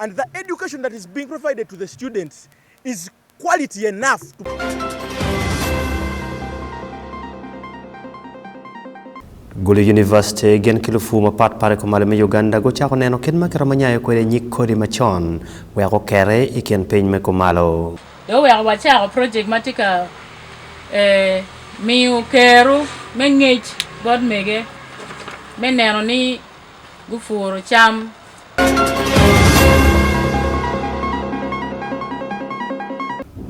And the education that is being provided to the students is quality enough to... golo university gen kilufu mapat pare kumalo me uganda gochako neno kit ma kero manyayo kwede nyik kodi machon weko kere i kin piny me kumalo do weko wachako project ma tye ka eh, miyo keru me ngec bot mege me neno ni gupuro cam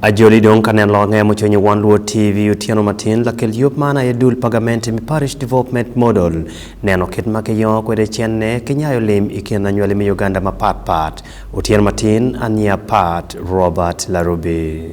Ajoli dong kane longe mochonyi wan luo TV otieno matin lakel yop mana e dul pagament mi parish development model neno kit ma kiyo kwede chen ne kinyayo lim ikin anywali mi Uganda ma pat pat otieno matin ania pat Robert Larubi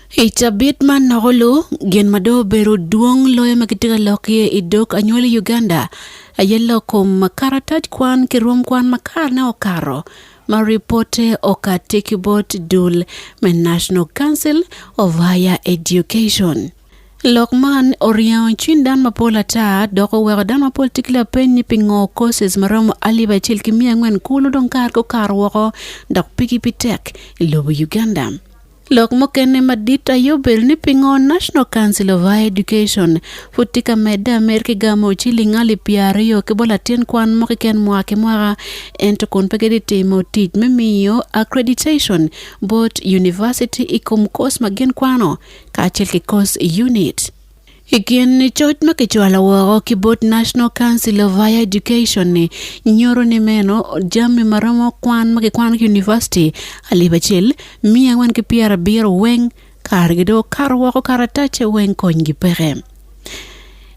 I cabit man noko lu gin ma dong obedo dwong loyo ma kitye ka lok iye i dog anywali i Uganda aye lok kom karatac kwan ki rwom kwan ma karne okato ma ripote okati ki bot dul me National Council of Higher Education. Lok man oriengo cwiny dan mapol ata dok oweko dan mapol tye ki lapeny ni pingo courses ma romo alip acel ki miya angwen kulu dong kare gukato woko dok pigi pi tek i lobo Uganda. Lok mokene madit ayobel ni pingo National Council of Higher Education futi ka medde Amerka igamo ciling ali piero aryo ki bol latin kwan mo kiken mwaka ki mwaka ento kun pe gidi timo tic me miyo accreditation bot university i kom kos ma gin kwano kacel ki kos unit. I kin coc ma kicwalo woko ki bot National Council of Higher Education ni nyoro ni meno jami ma romo kwan ma kikwano ki university alip acel miya angwen ki pyera abiro weng kare gi do karo woko karatace weng kony gi peke.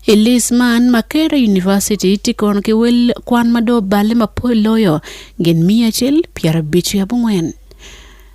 I lis man Makere University ti kono ki wel kwan ma do balle ma pol loyo gin miya acel pyera abic ki abongwen.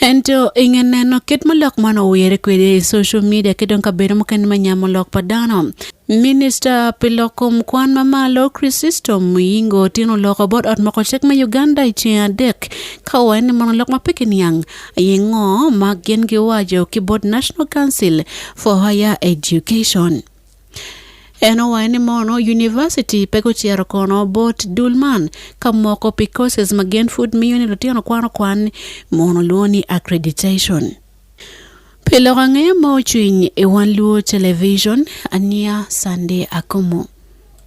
Ento inge neno kit ma lok man owere kwede i social media ki dong kabedo mukene ma nyamo lok pa dano. Minista pi lok kom kwan ma malo Chrysostom Muyingo otingo loko bot ot moko cik me Uganda i ceng adek ka owaye ni mono lok ma pe kiniang aye ngo ma gin giwaco ki bot National Council for Higher Education. En owaye ni mono university pe kucero kono bot dul man ka moko pi courses ma gen food miyo ni lutino kwano kwan mono luwo ni accreditation. Pi loko ang'eyo ma ocwiny i Wan Luo Television, Ania Sande Akomo.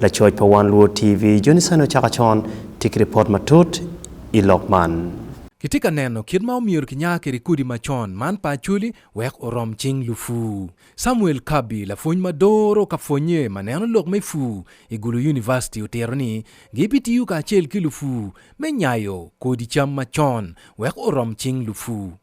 Lacoc pa One Luo TV joni sani ocako con tye ki ripot matut i lok man. Kitye ka neno kit ma omyero kinya kwede kodi macon man pa Acholi wek orom cing lupu. Samuel Kabi, lapwony ma doro ka pwonye ma neno lok me pu i Gulu University otito ni gibitiyo kacel ki lupu me nyayo kodi cam macon wek orom cing lupu.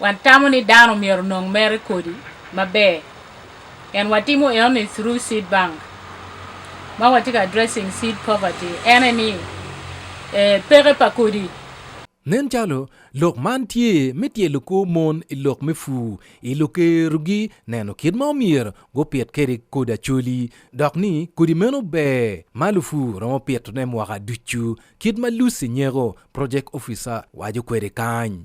Watamo ni dano myero onong mere kodi maber and watimo enoni through seed bank ma watye ka addressing seed poverty ene ni eh, peke pa kodi Nen calo lok man tye me tyelo kor mon i lok me pur i lukerogi neno kit ma omyero gupit kwede kodi acoli dok ni kodi meno ber ma lupur romo pitone mwaka ducu kit ma Lucy Nyeko, project officer, waco kwede kany.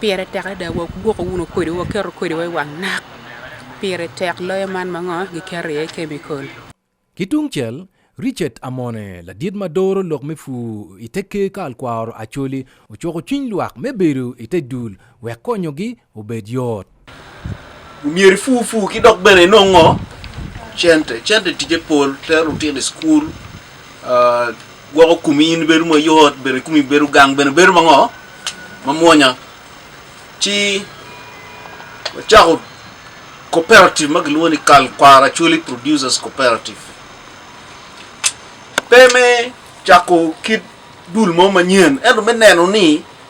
Pire tek adada wagwoko wuno kodi waketo kodi wa i wang nak. Pire tek loyo man ma ngo giketo iye kemikol. Ki tungcel, Richard Amone, ladit ma doro lok me pur i te Ker Karl Kwaro Acholi, ocuko cwiny lwak me bedo i te dul wek konyogi obed yot. Mier fufu kidok bene inong'o chente chente tije pol tero tiende skul uh, gwoko kumi in bedo mayot bene kumi bedo gang bene bedo mang'o mamwonya ci wacako cooperative ma giluongo ni kal kwara chuli producers cooperative pe me chako kit dul mo manyien ento me neno ni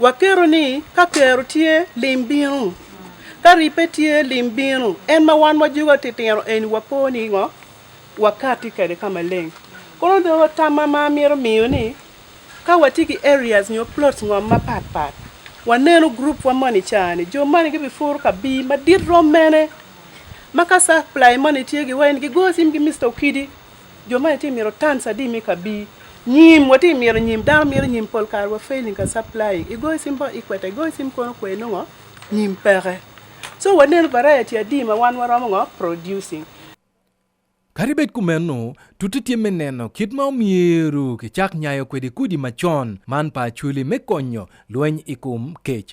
Waketo ni ka kero tye lim bino, ka ribbe tye lim bino. En ma wan wajugo atitino eni wapo ni ngo wakati kede ka maleng. Kono dong tam ma ma amito miyo ni ka watye ki areas nyo plots ngom mapat pat waneno group wa moni cani jo moni gibipuro ka bii madit rom mene ma ka supply moni tye giwaconi gigo cim ki Mister Okidi. Jo ma tye mito tans adi mi ka bi nyim wa tye mito nyim dano mito nyim pol kare wa failing ka supplying i goyo cim ba i kwete i goyo cim kono kwe nongo nyim peke so waneno variety adi ma wan waromo ngo producing Kadi bed kumeno, tuttu tye me neno kit ma omyero kicak nyayo kwede kudi macon man pa acweli me konyo lweny i kom kec.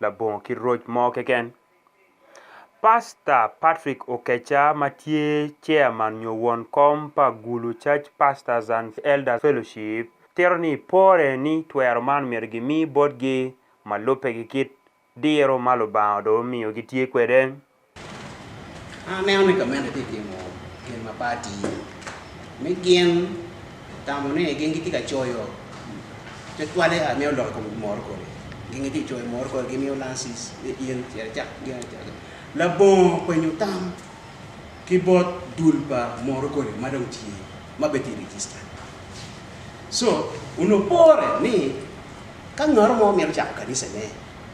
labongo ki roc mo keken. Pasta Patrick Okecha ma tye chairman nyo won kom pa Gulu Church Pastors and Elders Fellowship tito ni pore ni twero man myero gimi botgi ma lubbe ki kit diro ma Lubanga odong omiyo gitye kwede. Aneno ni gamente tye timo gin ma pati me gin tamo ni gin gitye ka coyo te twale a miyo loko kom mor kore gin gitye ka coyo mor kore gimiyo lansis in cere cak gin cere labongo kwenyo tam ki bot dul pa mor kore ma dong tye ma beti register so unopore ni ka ngaro mo mito cako kanisane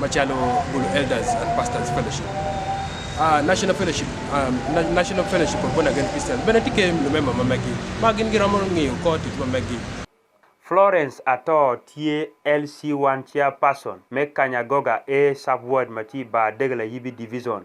Machalo Bulu Elders and Pastors Fellowship. Uh, National Fellowship, um, na National Fellowship of Born Again Christians. Bende tike lumema mamagi. Ma gin gi romo ng'iyo kod tich mamagi. Florence Atoo tye LC1 Chairperson me Kanyagoga A Sub-Ward ma tye i Bar Degla Yibi Division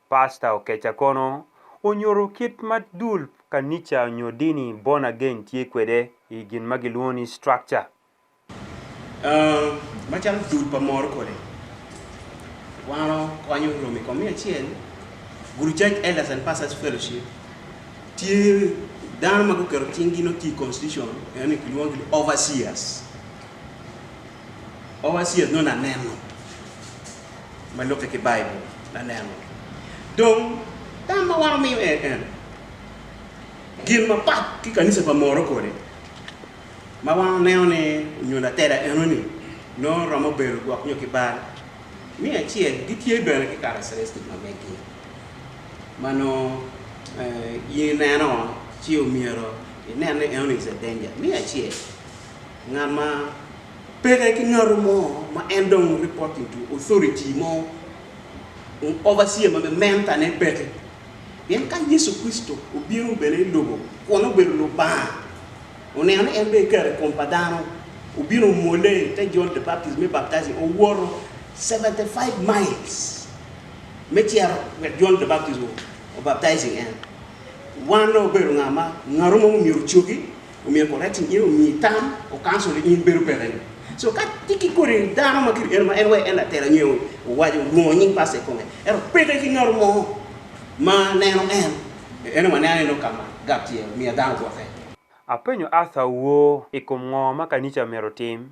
Pastor Okecha kono onyoro kit ma dul kanica nyo dini born again tye kwede i gin ma gilwongo ni structure. Uh, macalo dul pa moro kodi wano konyo romi komi acel guru church elders and pastors fellowship tye dano ma guketo cinggi no tye constitution yani kilwongo ni overseers Owasier no naneno. Ma look at the Bible, naneno. Dong, tama waro mi eh, eh. Gin ma pat ki kanisa pa moro kore. Ma wang neo ne nyunda tera eno ni. No romo belo gwak nyo kibar. Mi achiel, gitie bela ki kara serestik ma meki. Mano, eh, yineno, chiyo miro, ineno eno ni is a danger. Mi achiel, Ng'ama pere ki ng'ato mo ma en dong reporting to authority mo overseer ma menta ne bete pien ka Yesu Kristo obiro bene i lobo kun obedo Lubanga oneno ni en bene kare kom pa dano obino omwole te John the Baptist me baptize owoto 75 miles me cero wek John the Baptist obaptize en wan ne obedo ng'a ma ng'ato mo myero ocoki Omiyo ko rating iro mi tam o kanso le in beru pera yo. So ka tiki kore dano ma kiri ero ma en wai en atera nyo wajo luo nying pase konge. Ero peke ki nyor mo ma neno en. Eno ma neno eno kama gap tiye mi adano kwa fe. Apenyo Arthur woo i kom ngo ma kanica myero otim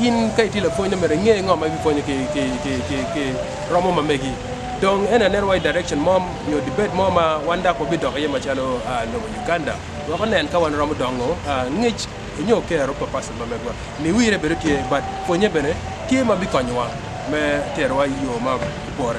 in ka itilo pwony no mere ng'e ng'o ma ipwonyo ki ki ki ki ki romo ma megi dong en aneno wai direction mo nyo debate mo ma wan dako bi dok iye macalo ah, lobo Uganda wek onen ka wan romo dongo ah, ngec nyo kero pa pastor ma megwa mi wire bedo tye but pwonye bene tye ma bikonyowa me terowa i yo ma pore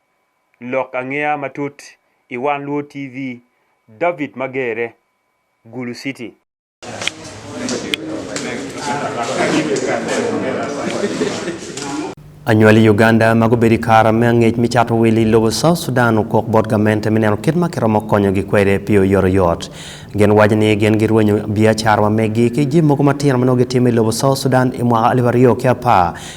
Lok angeya matut i One Luo TV, David Magere, Gulu City. Anywal i Uganda ma gubedo i kara me angec me cato wil i lobo South Sudan okok bot gamente me neno kit ma kiromo konyogi kwede pi oyotoyot. Gin waco ni gin girwenyo biacara ma meggi ki jim mogo matino ma nongo gitimo i lobo South Sudan i mwaka alip aryo ki apar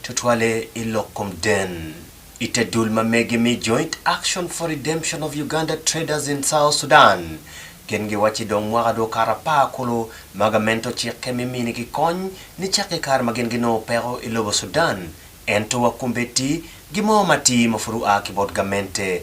Tutwale i lok kom den. I te dul ma mege mi Joint Action for Redemption of Uganda Traders in South Sudan, gin giwacci dong mwaka dong okato apar kulu ma gamento cikke me minigi kony nicakke i kare ma gin ginongo peko i lobo Sudan, ento wakumbeddi gimo matir ma pud oa ki bot gamente.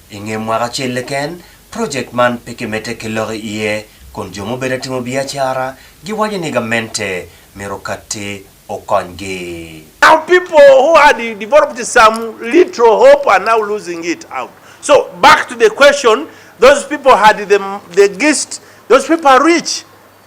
I nge mwaka acel keken, projek man pe kimedde ki lok i iye kun jo mubedo ka timo biacara giwaco ni gamente myero katti okonygi. Now people who had developed some little hope are now losing it out. So back to the question, those people had the, the gist, those people are rich.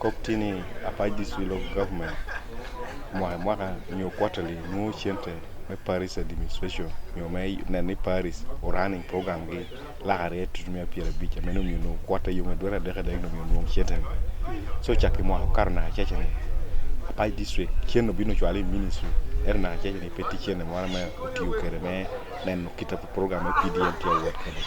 Koptini apaj this will of government mwaka mwaka nyo quarterly nwo cente me Paris administration nyo me neno ni Paris o running program gi lakare tutu me apira bicha meno miyo nwo quarter yo me dwera deka dek no miyo nwo cente so chakki mwaka karo na achacha ni apaj district cien no bino chwali ministry er na achacha ni peti cente mwana me otiyo kere me neno kita ko program e PDM ti awuot kene.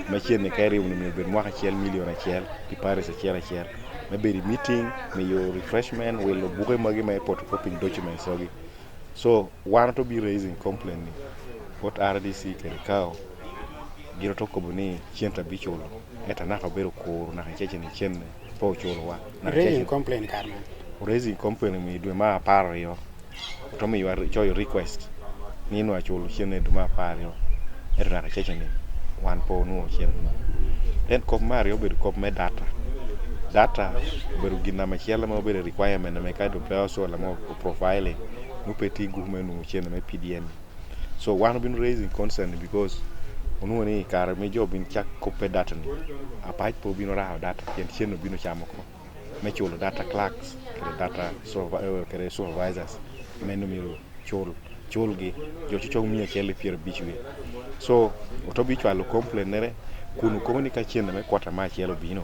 Machien ni kairi unu mi bed mwaka achiel milion achiel ki paris achiel achiel. Me bedi meeting, me yo refreshment, welo buke magi me photocopying documents ogi. So wan to be raising complaint ni what RDC kere kao giro to kobo ni chien tabichulo. Eta naka bero kuru naka cheche ni chien po ochulowa raising complaint kar man raising complaint mi dwe ma apar riyo to mi ywa cho your request ni no achulo chien e dwe ma apar riyo e raka cheche ni wan po nuo chien then kop mar riyo bedo kop me data data bedo gi nama chielo ma obedo requirement me ka do pe osuola mo profiling nupe ti gume nuo chien me PDN So wan been raising concern because onuo ni kare mi jo bin chak kope data ni. Apach po bino raho data kendo chieno bino chamo ko. Me chulo data clerks, kere data supervi- eh, kere supervisors. Meno miro chul chulgi jo chucho mia achiel gi piero abich wi. So otobi chwalo complain nere kunu koni ka chieno me kwata ma achiel obino.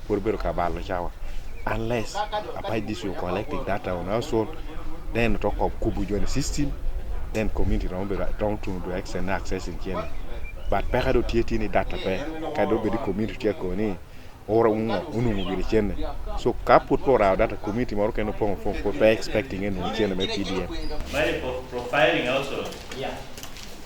Koro bedo kabalo chawa. Unless apart this you're collecting data on household, then talk of kubu join the system, then community don't be down to the extend access in Kenya. But peka do tieti ni data pe, ka do be the community tiya ko ni ora unga unungu giri chene. So ka put po rao data community moro kendo pong pong po pe expecting enu chene me PDF. Mali pro- profiling also. Yeah.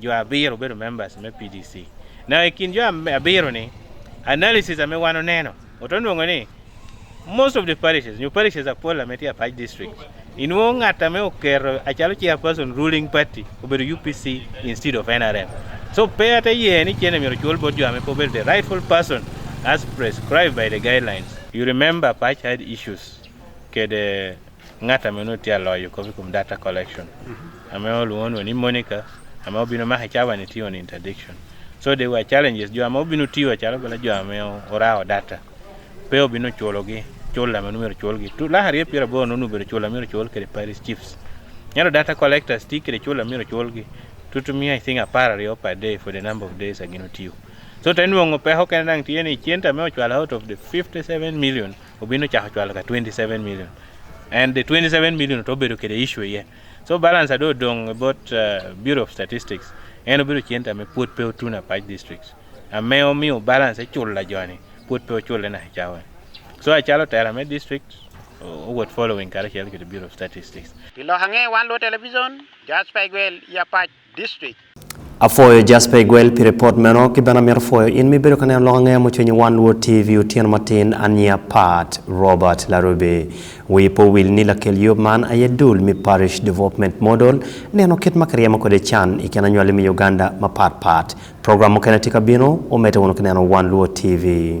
jo abiro bedo members me PDC. Na e kind jo abiro ni analysis ame wano neno otonwongo ni most of the parishes, new parishes are parliament here, Paj district. In one atame okero achalo chairperson ruling party obedo UPC instead of NRM. So pay at a year any chene miro chol board jame po the rightful person as prescribed by the guidelines. You remember Paj had issues kede Ng'ata meno tye aloyo kopi kum data collection. Ame oluwonwa ni Monica, ame obino maka cawa ni tiyo ni interdiction. So there were challenges, jo ame obino tiyo calo bala jo ame orawo data. Pe obino chulogi, chula meno mero chulgi. Tu laha rye pira bo nonu bero chula mero chul kede Paris Chiefs. Nyalo data collectors ti kede chula mero chulgi. Tutu mi I think apar ryo per day for the number of days agino tiyo. So tenwongo pe hokene dang tiye ni chenta me ochwala out of the 57 million. obino chako chwalo ka 27 million and the 27 million to obedo kede issue ye so balance ado odong about uh, bureau of statistics en obedo chien tame puot pe otuna pach districts ame omiyo balance ichulo e la joni puot pe ochule na chawe so achalo tera me district owuot following kare chiel kede bureau of statistics pilo hange wan lo television jasper igwel ya pach district. Afoyo Jasper Igwel pi report meno ki bena mito foyo in mi bedo ka neno lok ang'eya mucwenyi wan luo TV otieno matin ania part Robert Larube wi po wil ni lakel yob man aye dul mi parish development model neno kit ma kiryemo kode can i kin anywali mi Uganda ma pat pat program mukene tye ka bino omete wunu ki neno wan luo TV